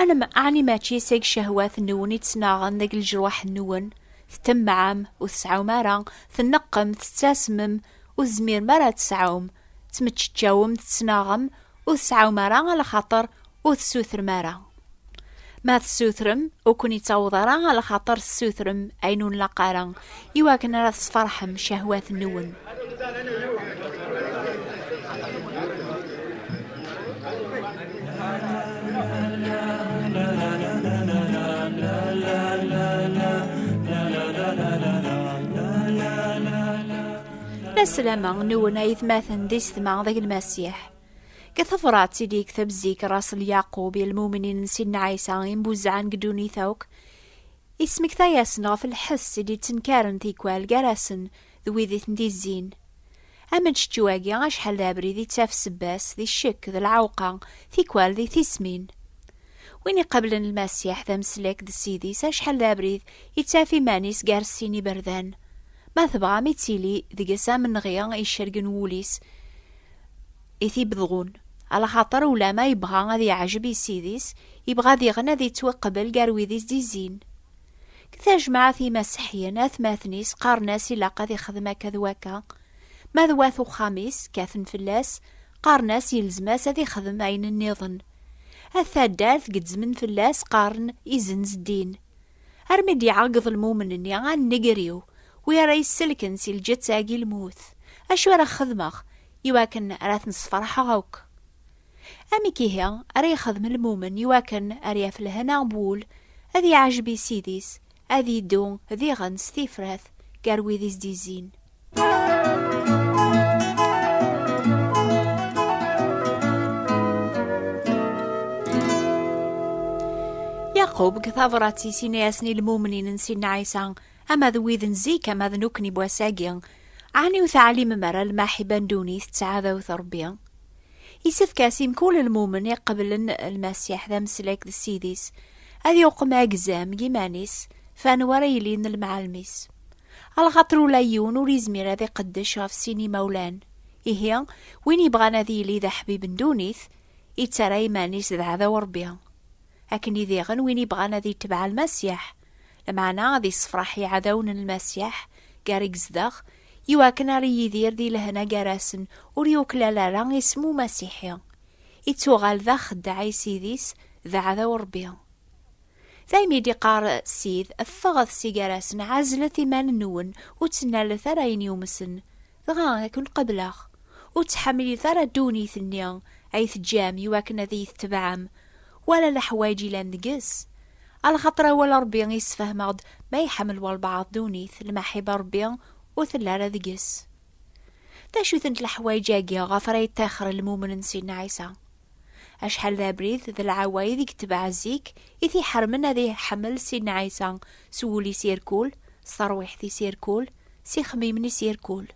Anem aɛni mačči seg ccehwat nwen i ttnaɣen deg leǧruḥ nwen, ttemmaɛem, ur tesɛum ara, tneqqem, tettasmem, ur tezmirem ara ad tesɛum, ttmeččeččawem, tettnaɣem, ur tesɛum ara a lxaṭer ur tessutrem ara? Ma tessutrem, ur ken-ittaweḍ ara a lxaṭer tessutrem ayen ur nlaq ara, i wakken ara tesferḥem cahwat-nwen. Laslama nwen ay tmaten d isetma d aglemasiḥ. Deg tebrat i d-yekteb zik Rasel Yaqub i lmumnin n Sidna Ɛisa imbuzɛan deg ddunit akk, Ismekta-yasen ɣef lḥess i d-yettenkaren tikwal gar-asen d wid i ten-d-izzin. Ameččečču-agi acḥal d abrid i ttaf sebba-s di ccekk d lɛewqa, tikwal di tismin. Win iqablen Lmasiḥ d ameslek d Ssid-is acḥal d abrid i ttaf iman-is gar sin iberdan, ma tebɣam ittili deg-s amenɣi icergen wul-is, i t-ibedɣun, alaxaṭer ulama yebɣa ad yeɛjeb i Ssid-is, yebɣa diɣen ad yettwaqbel gar wid i s-d-izzin. Deg tajmaɛt imaseḥyen, atmaten-is qqaren-as ilaq ad ixdem akka d wakka, ma d wat uxxam-is kkaten fell-as, qqaren-as yelzem-as ad ixdem ayen nniḍen. At taddart gezzmen fell-as qqaren izenz ddin, Armi d-iɛeggeḍ lmumen-nni a nnger-iw, wi ara yesselken si lǧeţţa-agi lmut, acu ara xedmeɣ i wakken ara ten-sfeṛḥeɣ akk? Amek ihi ara yexdem lmumen i wakken ar yaf lehna n wul, ad yeɛjeb i Ssid-is, ad yeddu diɣen s tifrat gar wid i s-d-izzin? Yaqub deg tabrat-is ini-asen i lmumnin n Sinna Ɛisa, ama d wid n zik ama d nukni n wass-agi, ɛni ur teɛlimem ara lmaḥiba n ddunit d tɛadawt n Rebbi? Isefk-as i mkul lmumen iqeblen Lmasiḥ d ameslak d Ssid-is, ad yuqem agzam n yiman-is f anwa ara yilin lmɛalem-is. Alxaṭer ula yiwen ur yezmir ad iqeddec ɣef sin imawlan. Ihi, win yebɣan ad yili d aḥbib n ddunit, ittarra iman-is d aɛdaw n Ṛebbi. Akken i diɣen win yebɣan ad itbeɛ Lmasiḥ, lameɛna ad issefṛeḥ iɛdawen n Lmasiḥ gar i yezdeɣ, i wakken ara yidir di lehna gar-asen, ur yuklal ara isem Umasiḥi. Ittuɣal d axeddaɛ i Ssid-is, d aɛdaw n Ṛebbi. D ayen i d-iqqar Ssid, ffɣet si gar-asen, ɛezlet iman-nwen, ur ttnalet ara ayen yumsen, dɣa ad ken-qableɣ. Ur ttḥamilit ara ddunit-nni ay teǧǧam i wakken ad iyi-tetebɛem, wala leḥwayeǧ yellan deg-s. Alxaṭer awal Ṛebbi i sfehmeɣ-d, ma iḥemmel walbeɛḍ ddunit, lmaḥiba n Ṛebbi ur tella ara deg-s. D acu-tent leḥwayeǧ-agi ɣef ara yeṭṭixer lmumen n Sidna Ɛisa? Acḥal d abrid d lɛawayed i yetbeɛ zik, i t-iḥermen ad iḥemmel Sidna Ɛisa s wul-is irkul, s terwiḥt-is irkul, s ixemmimen-is irkul.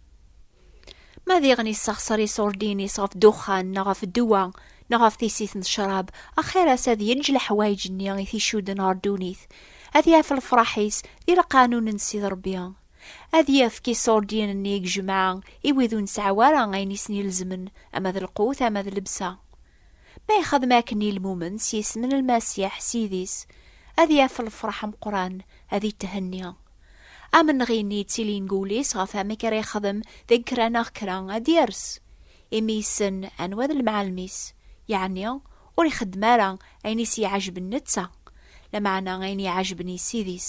Ma diɣen yessexṣer iṣurdiyen-is ɣef ddexxan neɣ ɣef ddwa neɣ ɣef tissit n ccrab, axir-as ad yeǧǧ leḥwayeǧ-nni i t-icudden ɣer ddunit, ad yaf lefraḥ-is di lqanun n Ssid Rebbi. Ad yefk iṣurdiyen-nni i jemɛa i wid ur nesɛi ara ayen i sen-ilezmen, ama d lqut, ama d lebsa. Ma yexdem akken i lmumen s yisem n Lmasiḥ, Ssid-is, ad yaf lefṛeḥ ameqqran, ad ithenni. Amenɣi-nni yettilin deg wul-is ɣef wamek ara yexdem deg kra neɣ kra, ad d-yers, imi yessen anwa d lemɛalem-is, yeɛni ur ixeddem ara ayen i s-iɛejben netta, lameɛna ayen i iɛejben i Ssid-is.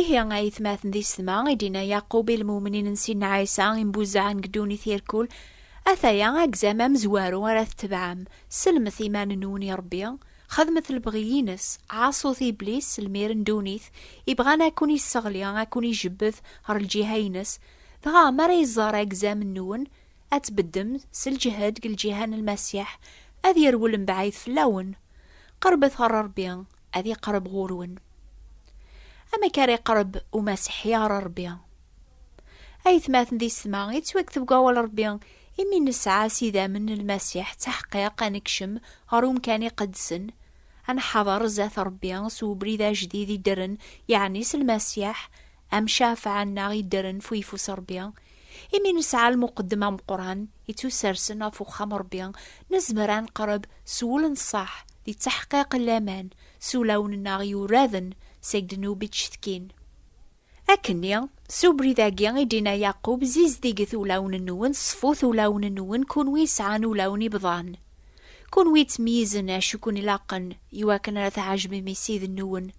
Ihi, ay atmaten di sma, i d-inna Yaqub i lmumnin n Sidna Ɛisa imbuzzaɛen deg ddunit irkul, Ataya agzam amezwaru ara tetebɛem, sellmet iman-nwen i Rebbi, xedmet lebɣi-ines, ɛaṣut Iblis, lmir n ddunit, ibɣan ad ken-isseɣli, ad ken-ijebbed ɣer lǧiha-ines, dɣa mi ara iẓer agzam-nwen, ad tbeddem s lǧehd deg lǧiha n Lmasiḥ, ad yerwel mebɛid fell-awen. Qerbet ɣer Rebbi, ad iqreb ɣur-wen amek ara iqreb umasiḥi ɣer Rebbi. Ayetmaten di setma, yettwakteb deg awal Rebbi imi nesɛa s idammen n Lmasiḥ d taḥqiq ad nekcem ɣer umkan iqedsen, ad nḥader zdat Rebbi s ubrid ajdid iddren, yeɛni s Lmasiḥ, am cafɛa-nneɣ iddren f uyeffus Ṛebbi, imi nesɛa lmuqeddem ameqqran ittusersen ɣef uxxam Ṛebbi, nezmer ad neqreb s wul n ṣṣeḥ d ttaḥqiq n laman s ulawen-nneɣ yuraden seg ddnub i d-cetkin. Akkenni, s ubrid-agi i d-inna Yaqub, Zizdiget ulawen-nwen, ṣfut ulawen-nwen, kunwi yesɛan ulawen ibḍan, kunwi yettmeyyizen acu i ken-ilaqen, iwakken ara tɛejbem i Ssid-nwen,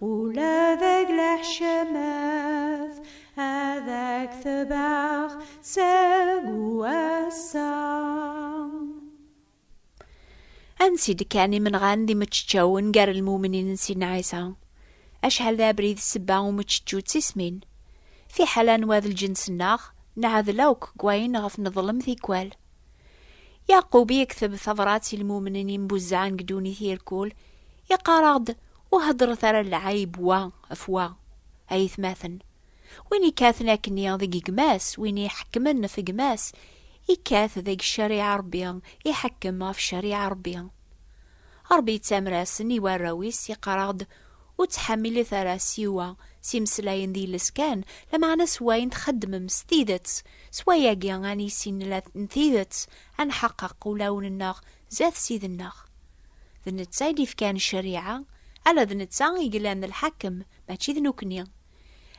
Ula deg leḥcamat ad ak-tebɛeɣ seg wass-a. Ansi d-kkan imenɣan d imeččeččawen gar lmumnin n Sidna Ɛisa? Acḥal d abrid ssebba umeččečču d tismin? Fiḥel anwa d lǧens-nneɣ, neɛdel akk deg wayen ɣef neḍlem tikwal. Yeɛqub yekteb tabrat i lmumnin yembuzzɛen deg ddunit irkul, iqqar-aɣ-d Ur heddṛet ara lɛayb wa ɣef wa, a yetmaten. Win ikkaten akkenni deg gma-s, win iḥekkmen ɣef gma-s, ikkat deg ccariɛa Ṛebbi, iḥekkem ɣef ccariɛa Ṛebbi. Ṛebbi yettamer-asen i warraw-is, iqqar-aɣ-d, Ur ttḥamilit ara siwa s imeslayen d yiles kan, lameɛna s wayen txeddmem s tidet, s wayagi ad nissin la n tidet, ad nḥeqqeq ulawen-nneɣ Zdat Ssid-nneɣ. D netta i d-ifkan ccariɛa, ala d netta i yellan d lḥakem, mačči d nekkni.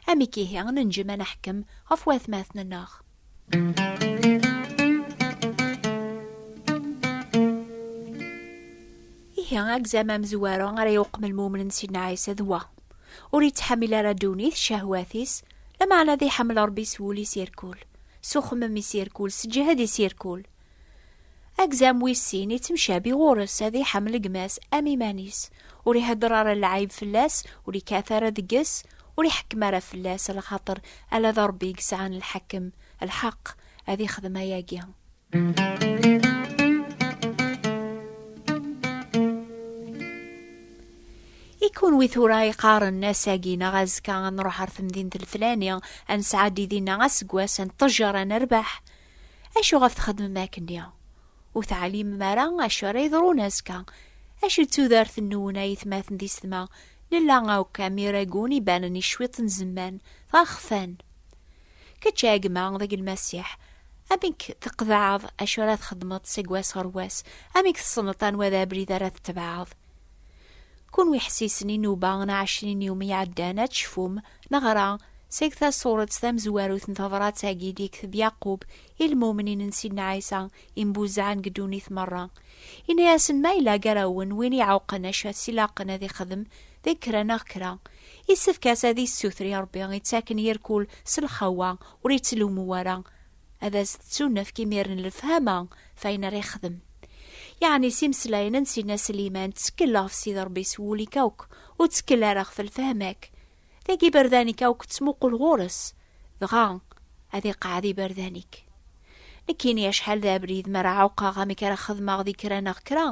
Amek ihi i nenǧem ad neḥkem ɣef watmaten-nneɣ? Ihi agzam amezwaru ara yuqem lmumen n Sidna Ɛisa d wa, Ur ittḥamil ara ddunit, ccehwat-is, lameɛna ad iḥemmel Ṛebbi s wul-is irkul, s uxemmem-is irkul, s ǧǧhed-is irkul. Agzam wis sin ittemcabi ɣur-s, ad iḥemmel gma-s am iman-is, ur ihedder ara lɛib fell-as, ur ikkat ara deg-s, ur iḥekkem ara fell-as, lxaṭer ala d Ṛebbi i yesɛan lḥekkem, lḥeqq, ad ixdem ayagi. I kunwi tura iqqaren ass-agi neɣ azekka ad nruḥ ɣer temdint lflani, ad nesɛeddi dinna aseggas, ad neṭṭejjer, ad nerbeḥ? Acu ɣef txedmem akkenni? Ur teɛlimem ara acu ara yeḍrun azekka. Acu d tudert-nwen a yetmaten di sedma? Nella akk am iragun ibanen i cwiṭ n zemman, dɣa xfan. Kečč a gma deg Lmasiḥ, amek tqeḍɛeḍ acu ara txedmeḍ seg wass ɣer wass? Amek tessneḍ anwa d abrid ara tetbeɛeḍ? Kunwi ḥessisen i nuba n ɛecrin iwmi iɛeddan ad tecfum, neɣra seg tasuret tamezwarut n tebrat-agi i d-yekteb Yaqub i lmumnin n Sidna Ɛisa imbuzaɛen deg ddunit merra. Yenna-yasen ma yella gar-awen win iɛuqen acu as ilaqen ad ixdem deg kra neɣ kra, issefk-as ad issuter i Rebbi ittaken yir kul s lxawa ur ittlummu ara ad as-tettunefk imiren lefhama f ayen ara yexdem. Yeɛni s imeslayen n Sidna Sliman, ttekkel ɣef Sidi Rebbi s wul-ik akk, ur ttekkel ara ɣef lfehma-k. Dagi iberdan-ik akk ttmuqul ɣur-s, dɣa ad iqeɛɛed iberdan-ik. Nekkini acḥal d abrid mi ara ɛuqqeɣ amek ara xedmeɣ di kra neɣ kra,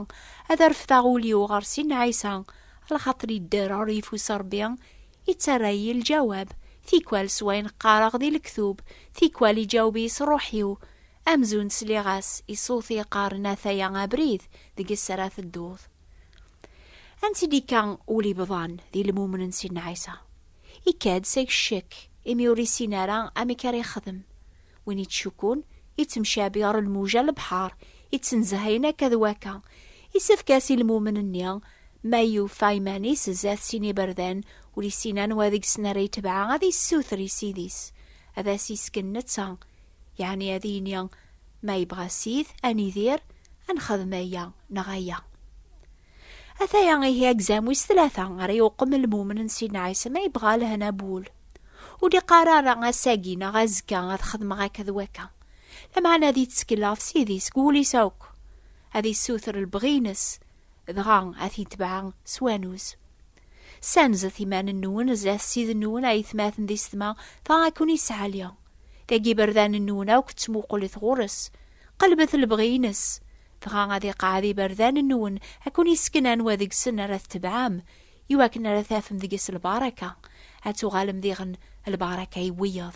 ad refdeɣ ul-iw ɣer Sidna Ɛisa, lxaṭer yedder ɣer yeffus n Rebbi, Ittarra-yi lǧawab, tikwal s wayen qqareɣ di lektub, tikwal iǧaweb-iyi s ṛuḥ-iw, amzun sliɣ-as i ṣṣut i yeqqaren ataya abrid deg-s ara tedduḍ. Ansi d-ikka ul ibḍan di lmumen n Sidna Ɛisa? Ikka-d seg ccekk, imi ur issin ara amek ara yexdem. Win ittcukkun, ittemcabi ɣer lmuja n lebḥar, ittenzehhayen akka d wakka, isefk-as i lmumen-nni, ma yufa iman-is zdat sin iberdan ur issin anwa deg-sen ara itebɛa ad issuter i ssid-is ad as-isken netta, yeɛni ad yini, Ma yebɣa ssid, ad nidir, ad nexdem aya neɣ aya. Ataya ihi agzam wis tlata ara yuqem lmumen n Sidna Ɛisa ma yebɣa lehna bu wul. Ur d-iqqar ara ass-agi neɣ azekka ad xedmeɣ akka d wakka. Lameɛna ad yettkel ɣef Sidi seg wul-is akk, ad yessuter lebɣi-ines, dɣa ad t-yetbeɛ s wanuz. Ssanzet iman-nwen zdat Ssid-nwen ayetmaten di setma, dɣa ad ken-isɛali. Dagi iberdan-nwen akk ttmuqulet ɣur-s. Qelbet lebɣi-ines. Dɣa ad iqeɛɛed iberdan-nwen, ad ken-isken anwa deg-sen ara tetebɛem, iwakken ara tafem deg-s lbaraka, ad tuɣalem diɣen lbaraka i wiyeḍ.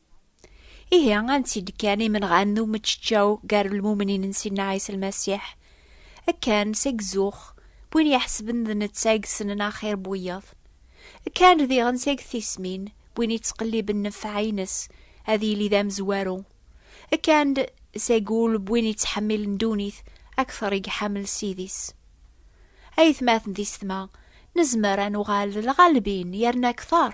Ihi, ansi d-kkan imenɣan n umeččeččaw gar lmumnin n Sidna Ɛisa Lmasiḥ? Kkan seg zzux n win iḥesben d netta i yessnen axir n wiyaḍ. Kkan diɣen seg tismin n win yettqelliben nnfeɛ-nnes ad yili d amezwaru. Kkan-d seg wul n win yettḥemmilen ddunit akteṛ i iḥemmel Ssid-is. Aytmaten d isetma, nezmer ad nuɣal d lɣalbin yerna akteṛ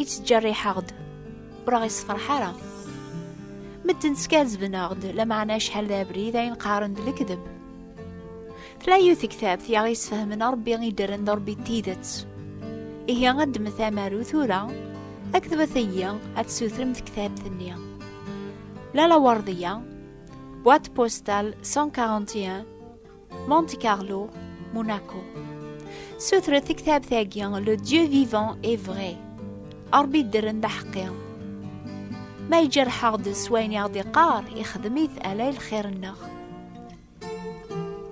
i ttjerriḥeɣ-d ur aɣ-isefreḥ ara medden skazzben-aɣ-d lameɛna acḥal d abrid ayen qqaren d lekdeb tella yiwet tektabt i aɣ-isfehmen Rebbi i ddren d Rebbi d tidet ihi ad ddmet amaru tura akked wat ayyi ad tsutrem tektabt-nni Lala Werdiya boîte postale 141 Monte Carlo, Monaco. Sutret tektabt agi Le Dieu vivant est vrai. Arbi ddren d aḥeqqi. Ma ijerḥeɣ-d s wayen i ɣ-d-iqqar, ixdem-it ala i lxir-nneɣ.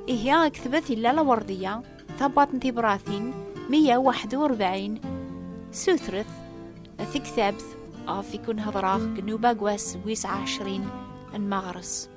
Ihi aktbet illa lawerdiya, tabaṭ n tibratin, 141, sutret, tektabt, ɣef ikun hedreɣ, gnuba gwas wis ɛecrin, n maɣres.